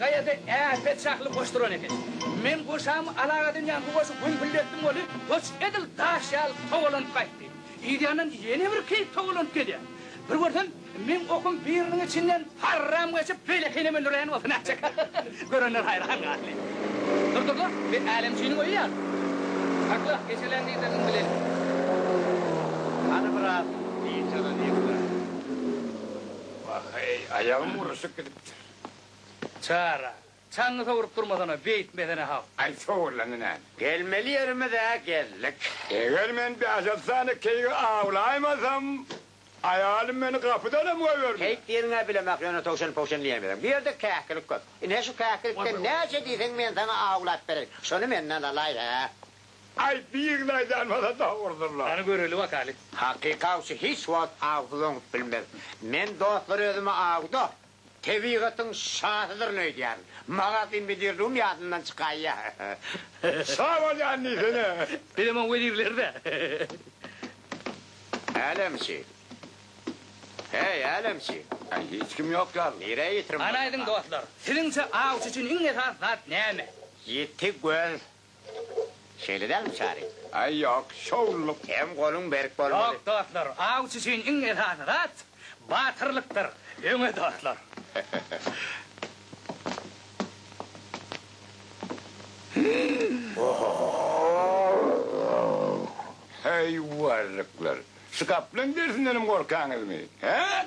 Gaýada äpet şahly goş duran eken. Men goşamy alak edinýän bu goşy gümpüldetdim weli, goş edil daş ýaly towalanyp gaýtdy. Yzýandan ýene bir keýik towalanyp gelýär. Bir görsem, meň okum biriniň içinden parram geçip, beýlekine mündürýän bolsa nätjek. Görenler haýran galdy. Durdurlar, sen Älemçiniň öýi ýaly. Sakla, eşelän diýseň bileli. Hany biraz dynç alalyň-la. Wah-eý, aýagym uruşyp gidipdir. Çara. Çaňňy sowrup durmasana, beýtmesene-ha. Aý, sowurlaňy näme? Gelmeli ýerimiz-ä geldik. Eger men bäş-altysany keýigi awlaýmasam, aýalym meni gapydanam goýbermez. Keýik diýeniň-ä bilemek, ýöne towşan-powşan diýemizem. Bu ýerde käkilik köp. Ine, şu käkilikden näçe diýseň, men saňa awlap bereýin. Şony menden alaý-a. Aý, birini aýdanmasa dogrudyr-la. Hany göreli bakaly. Hakyky awçy hiç wagt awsyz oňup bilmez. Men dostlar özümi awda, Tebigatyň şasydyryn öýdýärin. Magazyn bidirdigim ýadymdan çykaýýar. Şa bolýan diýsene. Bizem oň wezirleri-dä. Älemçi. Heý, älemçi. Aý, hiç kim ýok ýaly. Nirä ýitirim? Garaýdyň, dostlar, siziňçe awçy üçin iň esasy zat näme? Ýiti göz. Şeýle dälmi, Çary? Aý, ýok, şowlulyk. Hem goluň berk bolmaly. Ýok, dostlar, awçy üçin iň esasy zat, batyrlykdyr. Öňe, dostlar! Heý, warryklar! Şu gaplaň dersindenem gorkaňyzmy, hä?